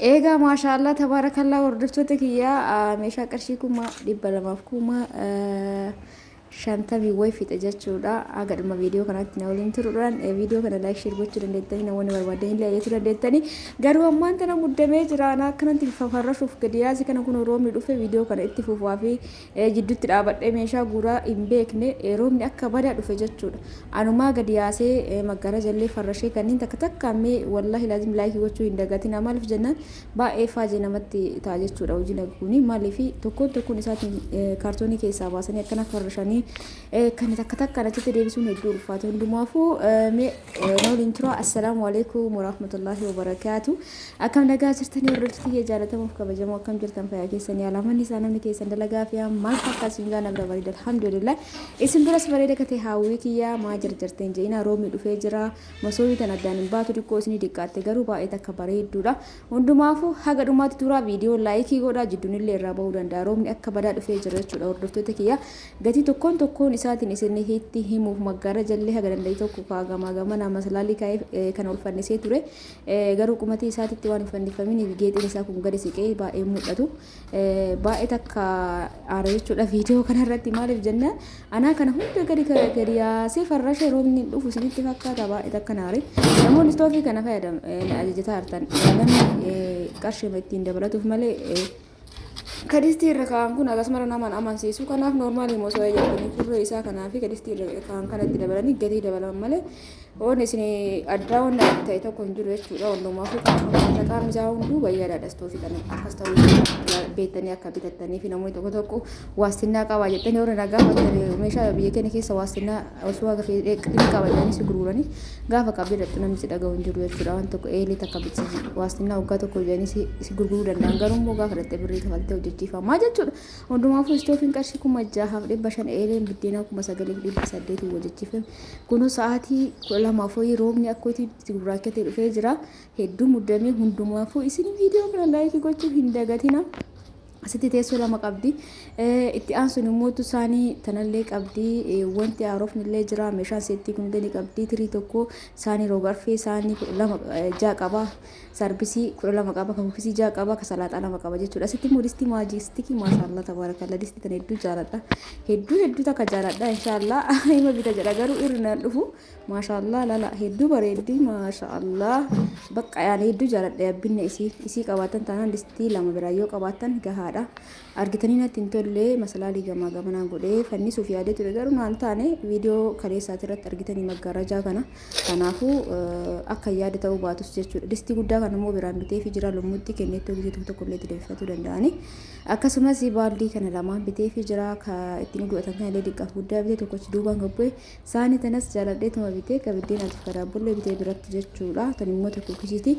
Eegaa maashaallah tabaarakallaa hordoftoota kiyyaa meeshaa qarshii kuma dhibba lamaaf kuma shantamii wayi fixe jechuudha. Haga dhuma viidiyoo kanatti na waliin turuudhaan viidiyoo kana laayik sheer gochuu dandeettanii namoonni barbaadan illee ajajuu dandeettanii. Garuu ammaan tana muddamee jira. Anaa akkanatti fafarrashuuf gadi yaase kana kun roobni dhufe viidiyoo kana itti fufaa fi jiddutti dhaabadhee meeshaa guuraa hin beekne roobni akka badaa dhufe jechuudha. Anumaa gadi yaasee maggaraja illee farrashee kanniin takka takkaan mee wallahi laazim laayikii gochuu hin dagatina maaliif jennaan baay'ee faajee namatti ta'a jechuudha hojiin akka kuni maaliif tokkoon tokkoon isaatiin kaartoonii keessaa baasanii akkana farrashanii kan takka takkaan achitti deebisuun hedduu ulfaata hundumaafuu mee na waliin turaa assalaamu alaikum warahmatullaahi wabarakaatu. Akkam nagaa jirtanii hordoftoota kiyya jaalatamuuf kabajamoo akkam jirtan fayyaa keessanii alaa manni isaa namni keessan dalagaa fi maal fakkaa isin gaa nabira bareeda alhamdulillah isin biras bareeda kate haawwii kiyya maa jarjarteen je'ina roobni dhufee jira masoobii tan addaan hin baatu diqqoo isinii diqqaatte garuu baay'ee takka bareedduudha hundumaafuu haga dhumaatti turaa viidiyoo laayikii godhaa jidduunillee irraa bahuu danda'a roobni akka badaa dhufee jira jechuudha hordoftoota kiyya gatii tokkoon tokkoon isaatiin isin hitti himuuf maggaara jallee haga danda'e tokko kaagamaa gamana masalaalii kaa'ee kan olfannisee ture Garuu qumatii isaatitti waan hin fannifaminiif geexiin isaa kun gadi siqee baay'ee hin mul'atu. Baay'ee takka aara jechuudha viidiyoo kanarratti maaliif jenna anaa kana hunda gadi gadi yaasee farrashee roobni hin dhufu isinitti fakkaata baay'ee takka naare. Namoonni istoofii kana fayyadamu ajajataa jirtan qarshii ittiin dabalatuuf malee Ka distii irra kaa'an kun akkasumara nama hin amansiisu. Kanaaf noormaaliima osoo eeyyamtanii turree isaa kanaa fi ka distii irra kaa'an kanatti dabalanii gatii dabalaman malee waan isin addaa waan ta'e tokko hin jiru jechuudha. Wallumaa fi qaamni isaa hunduu bayyaadhaadha istoofii kana akkas ta'uu beektanii akka bitattanii fi namoonni tokko tokko waastinnaa qabaa jettanii warri nagaa hojjetan meeshaa biyya keenya keessa waastinnaa osoo haga fedhe ni qaba jedhanii si gurguranii gaafa qabdee dhaqxu namni si dhaga'u hin jiru jechuudha waan tokko eelee takka bichisi waastinnaa waggaa tokko jedhanii si si gurguruu danda'an garuu immoo gaafa dhaqxee birrii kafaltee hojjechiifamaa jechuudha hundumaafuu istoofiin qarshii kuma jahaaf dhibba shan eeleen biddeenaa kuma sagaliif dhibba saddeetiin hojjechiifame kunuu sa'aatii kudha lamaaf hoyii roobni akkootii itti gurraachatee dhufee jira hedduu muddamee hundumaafuu isin viidiyoo kana laayikii gochuu hin dagatina. Asitti teessoo lama qabdi. Itti aansuun immoo utuu isaanii tanallee qabdi. Wanti haarofni illee jira. Meeshaan seettii kun ni qabdi. Tirii tokko isaanii roobarfee isaanii kudha lama ja'a qaba. Sarbisii kudha lama qaba. Kan kukkisii ja'a qaba. Kan salaaxaa lama qaba jechuudha. Asitti immoo distii maajistikii maashaallah tabaarakalla distii tan hedduu jaaladha. Hedduu hedduu takka jaaladha inshaallah ima bita jedha garuu irri naan dhufu. Maashaallah lala hedduu bareeddi maashaallah bakka yaani hedduu jaaladha yabbinne isii isii qabaatan taanaan distii lama biraa yoo qabaatan gahaadha argitanii natti hin tollee masalaalii gamaa gamanaan godhee fannisuuf yaadee ture garuu naan taane viidiyoo kaleessaati irratti argitanii maggaarajaa kana kanaafuu akka yaada ta'uu baatus jechuudha distii guddaa kana immoo biraan bitee fi jira lummuutti kenneettoo gisee tokko tokko illee itti deebifatuu danda'anii akkasumas baaldii kana lamaan bitee fi jira ittiin godhatan kan illee diqqaaf guddaa bitee tokkochi duubaan gabbee Saani tanas jaaladheetuma bitee ka biddeenaatiif ka daabbollee bitee biratti jechuudha. Tan immoo ta kuukisiiti.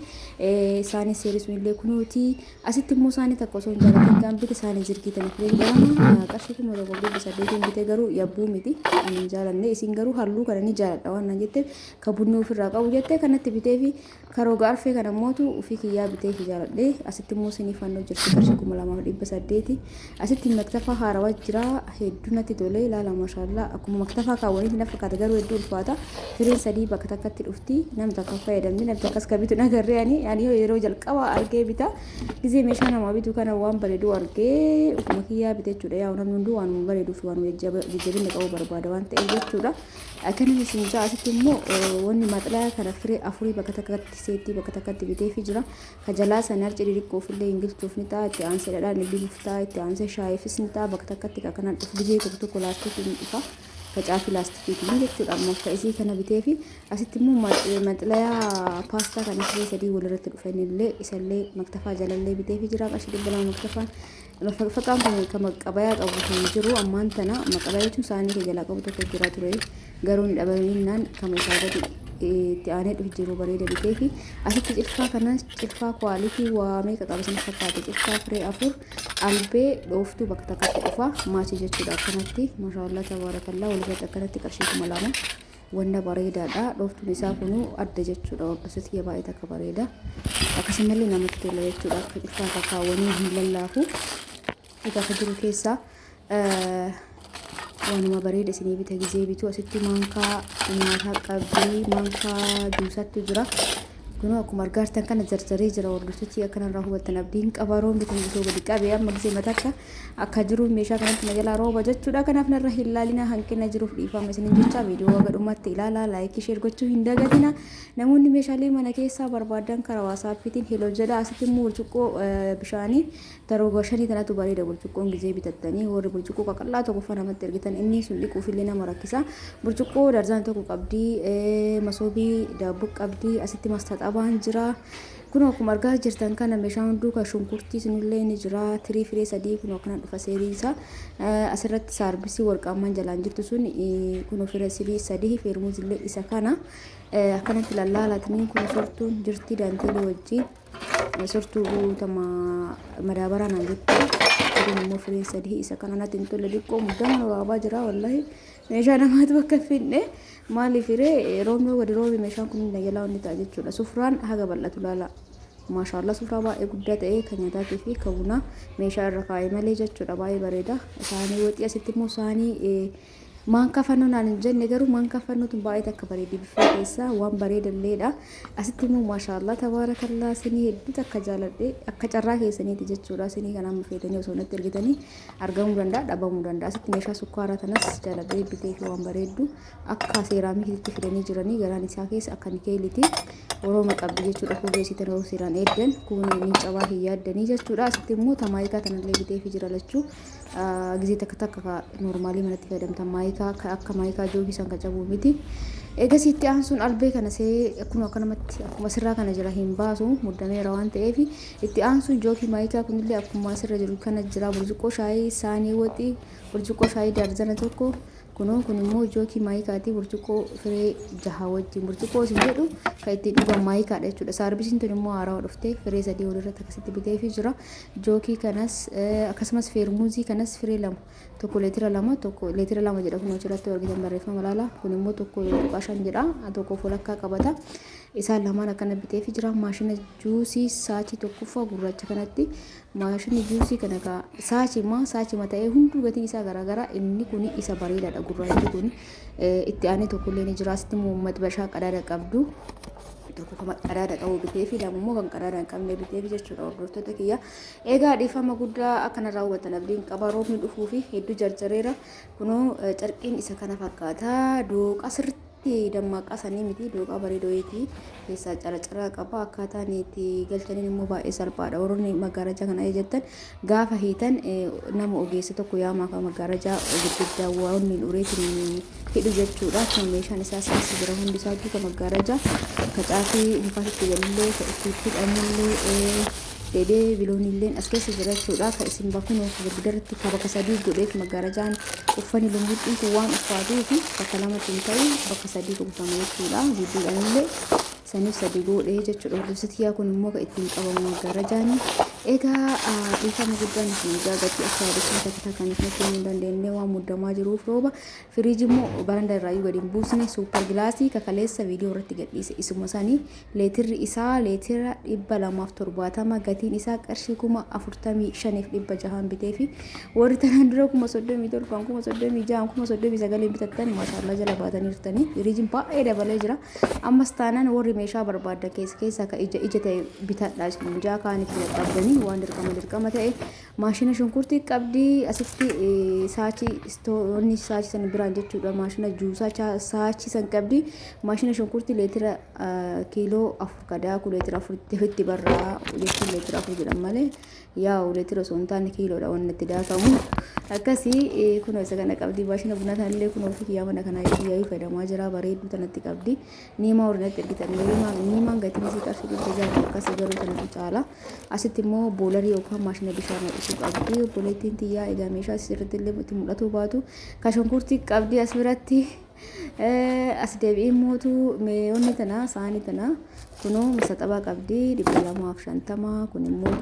Saani seerii sun illee kunuuti. Asitti immoo saani takka osoo hin jaalatiin kan bite saani jirgii tana fileen jedhama. Qarshii kuma tokko dhibba saddeetiin bitee garuu yabbuu miti. Ani hin jaalanne. Isin garuu halluu kana ni jaaladha waan naan jetteef ka bunni ofirraa qabu jettee kanatti bitee fi Ka roga arfee kana mootu ufii kiyyaa bitee ifi jaaladhe. Asitti immoo sinii fannoo jirti qarshii kuma lamaa fi dhibba saddeeti. Asitti maktafaa haarawa jira hedduu natti tole ilaala mashaallaa akkuma maktafaa kaawwanitti na fakkaata garuu hedduu ulfaata. Firiin sadii bakka takkatti dhufti namni takka fayyadamni namni takkas ka bitu nagarree ani ani yeroo jalqaba argee bita gizee meeshaa namaa bitu kana waan bareedu argee ufuma kiyyaa bite jechuudha yaa namni hunduu waanuma bareeduu fi waanuma jajjabinni qabu barbaada waan ta'eef jechuudha. Akkanan isin ja'a asitti immoo wanni maxlaya kana firee afurii bakka takkatti seetii bakka takkatti biteefi jira. Ka jalaa san harci diriqqoof illee hin gilchuuf ni ta'a itti aansee dhadhaan illee nuuf ta'a itti aansee shaayifis ni ta'a bakka takkatti ka kanaan dhuf gizee tokko tokko laastikii ni dhufa. Facaafi laastikiiti ni jechuudha ammoo ka isii kana biteefi asitti immoo maxlaya paastaa kana firee sadii walirratti dhufa inni illee isa illee maktafaa jalallee biteefi jira qarshii dhibba lama maktafaan Faqfaqaan kun kan maqabayaa qabu kan jiru ammaan tana maqabayaa jechuun saanii kee jalaa qabu tokko jira ture garuu hin dhabaminnaan kan isaa gadi itti aanee dhufu jiru bareeda bitee fi asitti cilfaa kanas cilfaa kwaalitii waamee qaqaba sana fakkaate cilfaa firee afur albee dhooftuu bakka takkatti dhufa maachii jechuudha akkanatti mashaallaa tabaarakallaa walirratti akkanatti qarshii kuma lama wanna bareedaadha dhooftuun isaa kunuu adda jechuudha waggasuu tiyya baay'ee takka bareeda akkasumallee namatti tola jechuudha akka cufaa kakaawwanii hin lallaafu egaa akka jiru keessaa waanuma bareeda isinii bita gizee bituu asitti maankaa nyaataa qabdii maankaa juusaatti jira kunuu akkuma argaartan kana jarjaree jira hordoftochi akkanarraa hubattan abdiin qabaroon bitan bitoo gadi qabee amma gizee matakka Akka jiruuf meeshaa kanatti na jalaa rooba jechuudha. Kanaaf narra hin laalina hanqina jiruuf dhiifama isinin jecha viidiyoo haga dhumaatti ilaalaa laayikii sheer gochuu hin dagatina. Namoonni meeshaalee mana keessaa barbaadan karaa waasaappiitiin heloo jedha. Asitti immoo burcuqqoo bishaanii tarooba shanii tanatu bareeda burcuqqoon gizee bitattanii warri burcuqqoo qaqallaa tokkoffaa namatti ergitan inni sun dhiquuf illee nama rakkisa. Burcuqqoo darzaan tokko qabdi masoobii daabboo qabdi asitti mastaxabaan jira. Kunoo akkuma argaa jirtan kana meeshaa hunduu kan shunkurtii sunillee ni jira. Tirii firee sadii kunoo akkana dhufa seerii isaa. Asirratti saarbisii warqaammaan jalaan jirtu sun kunoo fira sirii sadii feermuuzillee isa kana. Akkanatti lallaalatanii kun sortuun jirti daanteelii wajjin. Sortuu guutama madaabaraa naan jetti. Kun immoo firee sadii isa kana natti hin tolle diqqoo muddama waabaa jira wallahi. Meeshaa namaatu akka hin fidne maaliif hiree roobni gadi roobe meeshaan kun hin dagalaa inni ta'a jechuudha. Sufraan haga bal'atu laala. Maashaallah sufraa baay'ee guddaa ta'e kan nyaataatii fi kan bunaa meeshaa irra kaa'e malee jechuudha baay'ee bareeda. Saanii waxii asitti immoo saanii maan kafannoo naan hin jenne garuu maan kafannoo tun baay'ee takka bareedi biffee keessaa waan bareeda illeedha. Asitti immoo maashaallah tabaarakallaa sinii hedduu takka jaaladhe akka carraa keessaniiti jechuudha sinii kanaan mufeetanii osoo natti ergitanii. argamuu danda'a dhabamuu danda'a asitti meeshaa sukkaaraa tanas jaaladhee bitee fi waan bareeddu akka seeraamikiitti fidanii jiranii garaan isaa keessa akka nikeeliti orooma qabdi jechuudha fuullee isii tanaruu seeraan eeddan kun ni cabaa hin yaaddanii jechuudha asitti immoo tamaayikaa tanallee bitee fi jira lachuu gizee takka takka normaalii manatti fayyadamtan maayikaa akka maayikaa joogii san kacabuu miti eegasiitti aansuun albee kana see akkuma akkanumatti akkuma sirraa kana jala hin baasu muddameera waan ta'eef Itti aansuun jookii maayikaa kunillee akkuma asirra jiru kana jira. Burcuqqoo shaayii saanii waxii, burcuqqoo shaayii daarzana tokko. Kunoo kun immoo jookii maayikaati burcuqqoo firee jaha wajjin. Burcuqqoo isin jedhu kan ittiin dhugan maayikaadha jechuudha. Saarbisiin tun immoo haarawa dhuftee firee sadii walirratti akkasitti biteefii jira. Jookii kanas akkasumas feermuuzii kanas firee lama tokko leetira lama tokko leetira lama jedha kun achirratti argitan barreeffama laala. Kun immoo tokko tuqaa shan jedha tokko walakkaa qabata. Isaan lamaan akkana biteefii jira maashina Juusii saachii tokkoffaa gurraacha kanatti maashinni juusii kana kaa saachima saachima ta'ee hunduu gatiin isaa garaagaraa inni kun isa bareedaadha gurraachi kun itti aanee tokkollee ni jira asitti immoo maxbashaa qadaada qabdu tokko kan qadaada qabu bitee fi lama immoo kan qadaada hin qabne bitee fi jechuudha hordoftoota kiyya egaa dhiifama guddaa akkana raawwatan abdiin qaba roobni dhufuu fi hedduu jarjareera kunoo carqiin isa kana fakkaata dooqa sirriitti Dammaaqqaa sanii miti dooqaa bareedoyeeti keessaa caracaraa qaba akkaataan itti galchaniin immoo baay'ee salphaadha warroonni maggaarajaa kana jettan gaafa hiitan nama ogeessa tokko yaamaa kan maggaarajaa gurguddaa waan hin ureetiin hidhu jechuudha kan meeshaan isaa saasi jira hundi isaa kan maggaarajaa kacaafii mukaasitti galillee itti hidhamullee deebi'ee bilooniilleen as keessa jira jechuudha. Ka isin bakunoo girgidarratti ka bakka sadii godheef maggaarajaan uffani lumbuxxii kun waan uffaatuu fi bakka lamatti hin ta'u bakka sadii gutama jechuudha. Jidduudhaanillee saniif sadii godhee jechuudha. Hordofsitiyaa kun immoo ka ittiin qabamu maggaarajaani. Egaa dhiifama guddaan isin egaa gatii akka yaadachuu takka takkaan isin kennuu hin dandeenye waan muddamaa jiruuf rooba Firiiji immoo baranda irraayyuu gadi hin buusne suupper gilaasii kakaleessa viidiyoo irratti gadhiise isuma sanii leetirri isaa leetira dhibba lamaaf torbaatama gatiin isaa qarshii kuma afurtamii shaniif dhibba jahaan bitee fi warri tanaan dura kuma soddomii torbaan kuma soddomii jahaan kuma soddomii sagaliin bitattan maashaallaa jala baatanii jirtanii firiijiin baay'ee dabalee jira ammas taanaan warri meeshaa barbaaddan keessa keessaa ka ija ija ta'e bitadhaa isin jaa kaanitti dadhabdanii waan dirqama dirqama ta'e Maashina shunkurtii qabdi asitti saachii istoonni saachii sana biraan jechuudha maashina juusaa saachii san qabdi maashina shunkurtii leetira kiiloo afur kadaakuu leetira afur itti barraa jechuun leetira afur jedhan malee yaa'u leetira osoo hin taane kiiloodha wanni itti daakamu akkasii kunoo isa kana qabdi maashina bunaa sanallee kunoo ofii kiyyaa mana kanaa kiyyaa fayyadamaa jira bareedduu tanatti qabdi. Niimaa ordinatti ergitan niimaa niimaan gatiin isii qarshii dhibba ja'a akkasii garuu kanatu caala. Asitti immoo boolarii yookaan maashina bishaan ho'isuu qabdi. Obboleettiin tiyyaa egaa meeshaa asirratti illee itti mul'atuu baatu ka shunkurtii qabdi as biratti. As deebi'ee mootu meeyoonni tana saanii tana kunoo masaxabaa qabdi dhibba lamaaf shantama kun immoo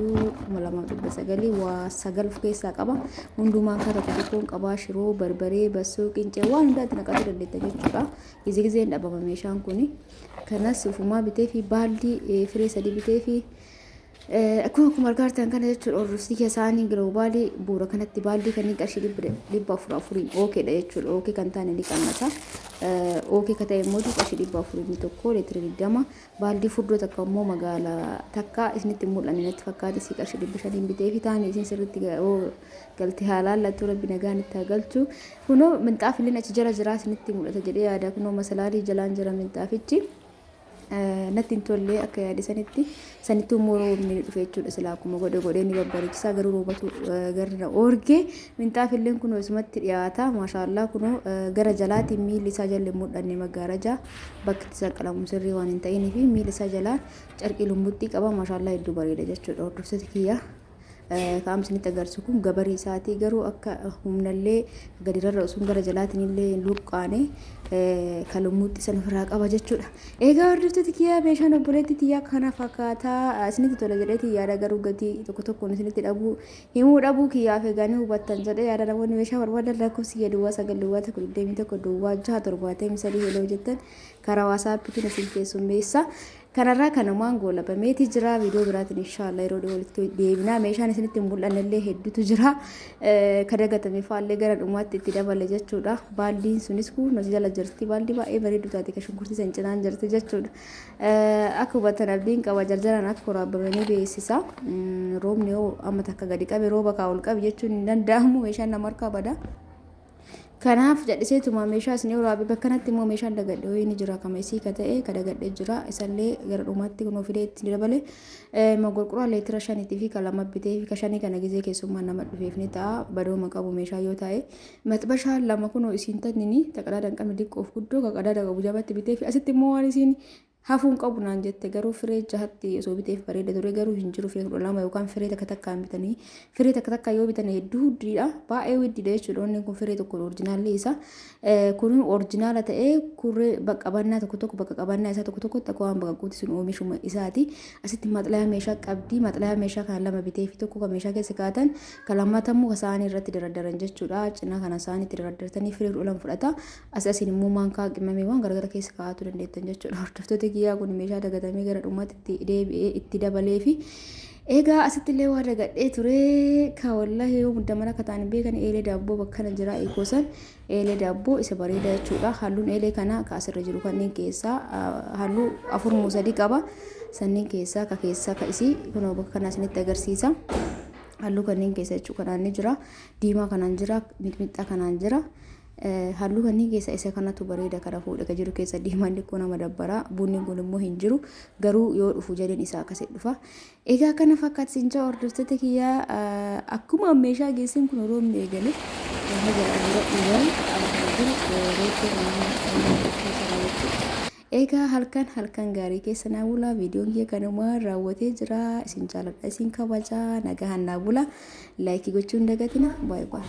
kuma lamaaf dhibba sagalii waa sagal of keessaa qaba. Hundumaa akka tokko tokkoon qabaa shiroo barbaree bassoo qincee waan hundaatti naqachuu dandeetta jechuudha. Gizee gizeen dhabama meeshaan kun. Kanas ufumaa bitee fi baaldii eh, firee sadii bitee fi eh, akkuma akkuma argaa jirtan kana jechuudha orrosii keessaanii giloobaalii bu'uura kanatti baaldii kanneen qarshii dhibba dhibba afur afuriin ookeedha jechuudha ookee kan taane ni qannasa. Eh, Ookee ka ta'e immoo qarshii dhibba afurii tokko leetira digdama Baaldii furdoo takka immoo magaala takka isinitti hin mul'anne natti fakkaate sii qarshii dhibba shaniin bitee fi taa'anii isin sirriitti galti haa laallattu rabbi nagaan itti haa galchu. Kunoo minxaafilleen achi jala jiraa isinitti mul'ata jedhee yaada kunoo masalaalii jalaan jira minxaafichi. natti hin tollee akka yaade sanitti sanittuu immoo roobni ni dhufe jechuudha silaa akkuma godhe godhee ni babbareechisa garuu roobatu garri na oorge Minxaafilleen kunoo isumatti dhiyaata. Maashaa Allah kunoo gara jalaatiin miilli isaa jalli hin mul'anne maggaarajaa bakki itti saqqalamu sirrii waan hin ta'inii fi miilli isaa jalaan carqii lumbuxxii qaba. Maashaa Allah hedduu bareeda jechuudha hordoftoota kiyya. Ka'am isinitti agarsiisu kun gabarii isaatii garuu akka humnallee gadirarra osoo gara jalaatiin illee hin luqqaane kan lummuutti san ofirraa qaba jechuudha. Egaa hordoftoota kiyya meeshaan obboleetti tiyyaa kana fakkaataa isinitti tola jedheetii yaada garuu gatii tokko tokkoon isinitti dhabuu Himuu dhabuu kiyyaaf egaa ni hubattan jedhee yaada namoonni meeshaa barbaadan lakkoofsi kiyya duwwaa 9 duwwaa 1 21 duwwaa 6 73 heloo jettan karaa waasaappiitiin isin keessummeessa. Kanarraa kanumaan goolabameeti jira viidiyoo biraatiin inshaallah yeroo dhiyoo walitti deebinaa meeshaan isinitti hin mul'annellee hedduutu jira ka dagatame faallee gara dhumaatti itti dabale jechuudha baaldiin sunis kun nuti jala jirti baaldii baay'ee bareedduu taate ka shunkurtii san cinaan jirti jechuudha Akka hubattan abdiin qaba jarjaraan akka koraabame ni beeksisa. Roobni yoo amma takka gadi qabe rooba kaa ol qabi jechuun hin danda'amu meeshaan nama harkaa bada. Kanaaf jadhiseetuma meeshaa isin yoo raabe bakkanatti immoo meeshaan dagadhe ho'ii ni jira kama isii ka ta'e ka dagadhe jira isallee gara dhumaatti kunoo fidee itti ni dabale mogorqoraa leetira shaniitii fi ka lama bitee fi ka shanii kana gizee keessummaa nama dhufeef ni ta'a badooma qabu meeshaa yoo ta'e Maxbashaa lama kunoo isiin tannini ta qadaada hin qabne diqqoof guddoo ka qadaada qabu jabatti bitee fi asitti immoo waan isiin hafuu hin qabu naan jette garuu firee jahatti osoo biteef bareeda ture garuu hin jiru firee kudha lama yookaan firee takka takka hin bitanii firee takka takka yoo bitan hedduu huddiidha baay'ee huddiidha jechuudha onni kun firee tokko orjinaalli isa kun orjinaala ta'ee kurree bakka qabannaa tokko tokko bakka qabannaa isaa tokko tokkotti akka waan bakka guuti sun oomishuma isaati asitti maxlayaa meeshaa qabdii maxlayaa meeshaa kana lama bitee fi tokko kan meeshaa keessa kaa'atan Ka lammataa immoo ka saanii irratti daraddaran jechuudha. Cinaa kana saanii itti daraddartanii firii fudhulan fudhata. As asiin immoo maankaa qimamiiwwan garagara keessa kaa'atuu dandeettan jechuudha. Hordoftoota kiyyaa kun meeshaa dagatamee gara dhumaatti itti deebi'ee itti dabalee fi Egaa asitti illee waa dagadhee ture ka wallahi yoo muddamana akka ta'an beekan eelee daabboo bakkana jira eegoosan eelee daabboo isa bareedaa jechuudha. Halluun eelee kana ka asirra jiru kanneen keessaa halluu afur moo sadii qaba. Sanniin keessaa ka keessaa ka isii kunoo bakka kanaa isinitti agarsiisa. halluu kanneen keessa jechuudha kanaan ni jira diimaa kanaan jira mixmixxaa kanaan jira halluu kanneen keessa isa kanatu bareeda kana fuudha jiru keessa diimaan xiqqoo nama dabbara bunni kun immoo hin jiru garuu yoo dhufu jedheen isaa akkasii dhufa egaa kana fakkaata sinjaa hordoftoota kiyyaa akkuma meeshaa geessin kun yeroo inni eegale haga dura dhugan kana jiru reettee naannoo keessa raawwachuu Eegaa halkan halkan gaarii keessa naa bulaa viidiyoon kiyya kanumaan raawwatee jira isin jaaladha isin kabaja nagahan naa bula laayikii gochuu hin dagatina baay baay.